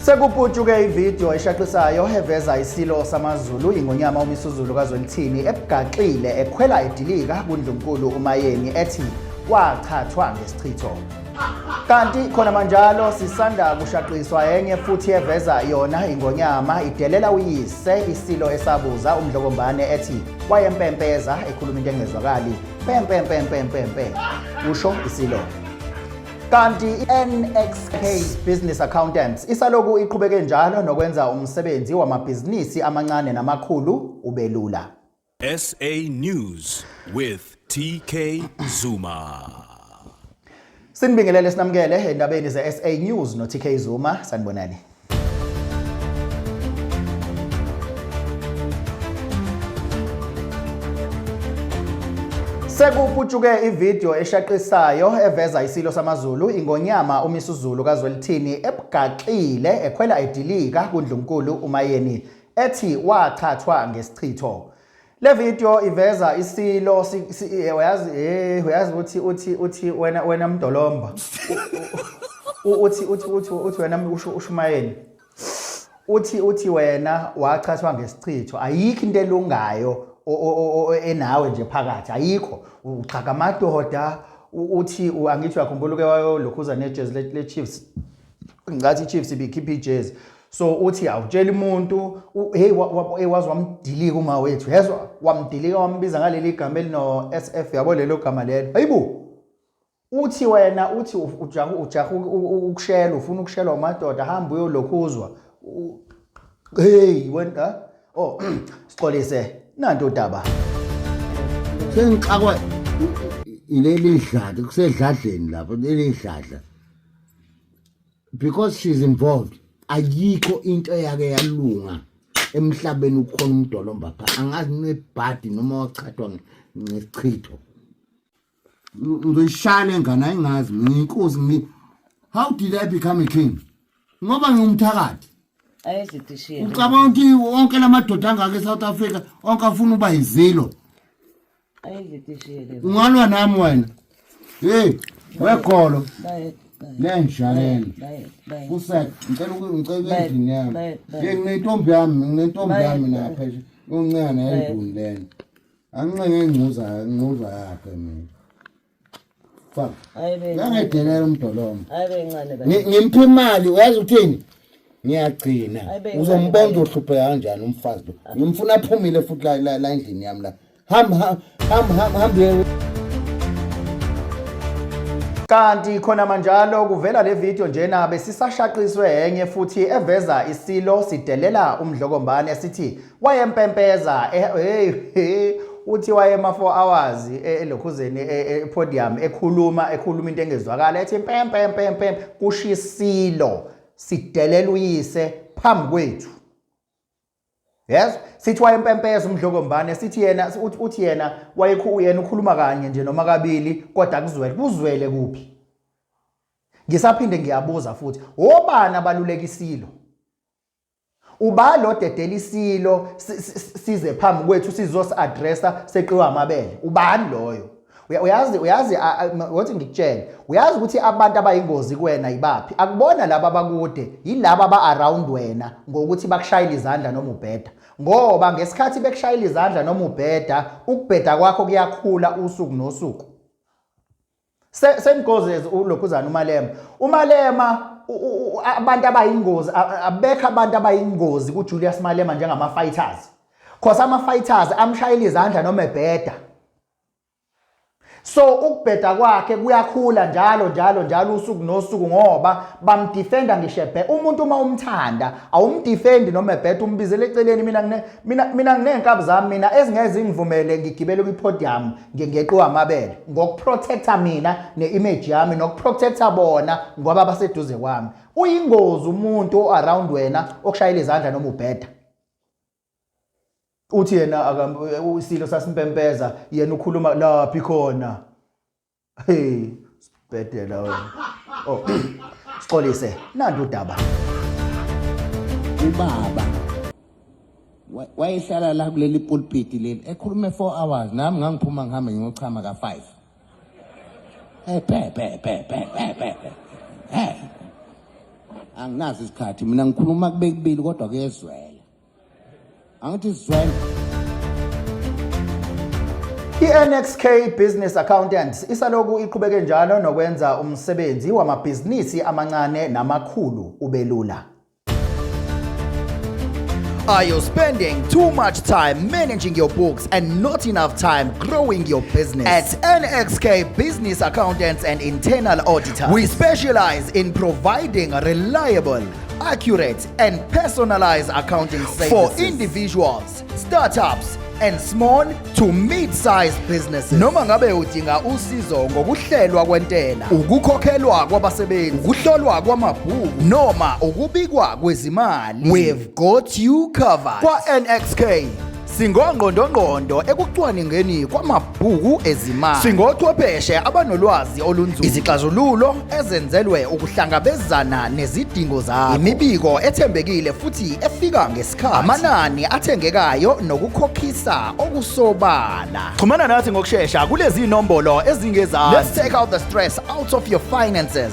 Sekuputshuke ividiyo eshaqisayo eveza isilo samaZulu ingonyama uMisuzulu kaZwelithini ebugaxile ekhwela edilika kuNdlunkulu uMayeni ethi wachathwa ngesichitho. Kanti khona manjalo sisanda kushaqiswa enye futhi eveza yona ingonyama idelela uyise isilo esabuza umdlokombane ethi wayempempeza ekhuluma into engezwakali pempempempempempe usho isilo Kanti i-NXK Business Accountants isaloku iqhubeke njalo nokwenza umsebenzi wamabhizinisi amancane namakhulu ubelula. SA News with TK Zuma. Sinibingelele sinamukele endabeni ze-SA News no-TK Zuma sanibonani. Sekuputshuke ivideo eshaqisayo eveza isilo samaZulu ingonyama uMisuzulu kaZwelithini ebugaxile ekhwela edilika kuNdlunkulu uMayeni ethi wathathwa ngesichitho. Le video iveza isilo eh, uyazi eh uyazi uthi uthi uthi wena wena mdolomba. Uthi uthi uthi uthi wena usho ushumayeni. Uthi uthi wena wachathwa ngesichitho ayikho into elungayo enawe nje phakathi ayikho uxhaka amadoda uthi angithi uyakhumbula uke wayolokhuza nejezi le-chiefs ngathi i-chiefs ibikhipha ijezi so uthi awutsheli umuntu hey wazi wamdilika uma wethu yezwa wamdilika wambiza ngaleli gama elino SF yabo lelo gama lelo hayibo uthi wena uthi ujaha ujaha ukushela ufuna ukushelwa umadoda hamba uyolokhuzwa hey wena oh sixolise nanto daba sengixakwa ileli dladi kusedladleni lapho leli dladla because she's involved ayikho into eyake yalunga emhlabeni ukhona umdolomba pha angazi nebhadi noma wachathwa ngesichitho ngizoyishaya le ngane ayingazi ngiyinkosi ngi how did i become a king ngoba ngiwumthakathi ucabanga ukuthi wonke la madoda angaka e-south africa onke afuna uba yizilo ungalwa nami wena hey wegolo lenjalelo kusek ngicela ngicela endlini yami ye nginentombi yami nginentombi yami napha yoncane endlini lena anginxenge ingcuza ingcuza yakhe mina ngangedelela umdolomo ngimtha imali uyazi uthini ngiyagcina uzombona uzohlupheka kanjani umfazi lo ngimfuna aphumile futhi la endlini yami la hamhamhamhamhambe kanti khona manjalo kuvela le video njena besisashaqiswe enye futhi eveza isilo sidelela umdlokombane sithi wayempempeza eh, hey, hey uthi wayema 4 hours e, elokhuzeni e, e, podium ekhuluma ekhuluma into engezwakala ethi impempe impempe kushisilo sidelela uyise phambi kwethu yes sithi wayempempeza umdlokombane sithi yena uthi yena wayekhu yena ukhuluma kanye nje noma kabili kodwa kuzwele kuzwele kuphi ngisaphinde ngiyabuza futhi obani abalulekisilo uba lo dedela isilo size phambi kwethu sizosi-addressa seqiwa amabele ubani loyo uyazi uyazi wathi ngikutshele uyazi ukuthi abantu abayingozi kuwena yibaphi akubona laba abakude yilaba aba-around wena ngokuthi bakushayela izandla noma ubheda ngoba ngesikhathi bekushayela izandla noma ubheda ukubheda kwakho kuyakhula usuku nosuku same goes as ulokhuzana umalema umalema abantu abayingozi abekho abantu abayingozi kuJulius Malema njengama fighters cause ama fighters amshayela izandla noma ebheda so ukubheda kwakhe kuyakhula njalo njalo njalo usuku nosuku ngoba bamdefenda ngisho ebhe umuntu uma umthanda awumdefendi noma ebheda umbizele eceleni mina mina mina nginenkabi zami mina ezingeze ngivumele ngigibele kwi podium ngingeqiwa amabele ngokuprotecta mina ne-image yami nokuprotecta bona ngoba baseduze kwami uyingozi umuntu o-around wena okushayela izandla noma ubheda uthi yena isilo sasimpempeza yena ukhuluma laphi khona hey Bhedela wena. Oh. Sixolise nantu udaba. Ubaba wa- wayehlala la kuleli pulpiti leli ekhulume 4 hours nami ngangiphuma ngihambe ngiyochama ka 5. Eh pe pe pe pe pe pe. pe. Eh. Anginazi isikhathi mina ngikhuluma kubekubili kodwa kuyezwela. angithi sizwene I-NXK Business Accountants isaloku iqhubeke njalo nokwenza umsebenzi wamabhizinisi amancane namakhulu ubelula. Are you spending too much time managing your books and not enough time growing your business? At NXK Business Accountants and Internal Auditors, we specialize in providing reliable, accurate, and personalized accounting services for individuals, startups, and small to mid-sized businesses noma ngabe udinga usizo ngokuhlelwa kwentela ukukhokhelwa kwabasebenzi ukuhlolwa kwamabhuku noma ukubikwa kwezimali we've got you covered kwa-nxk Singongqondongqondo ekucwaningeni kwamabhuku ezimali. Singochwepheshe abanolwazi olunzulu. Izixazululo ezenzelwe ukuhlangabezana nezidingo zakho. Imibiko ethembekile futhi efika ngesikhathi. Amanani athengekayo nokukhokhisa okusobala. Xhumana nathi ngokushesha kulezi nombolo ezingezansi. Let's take out the stress out of your finances.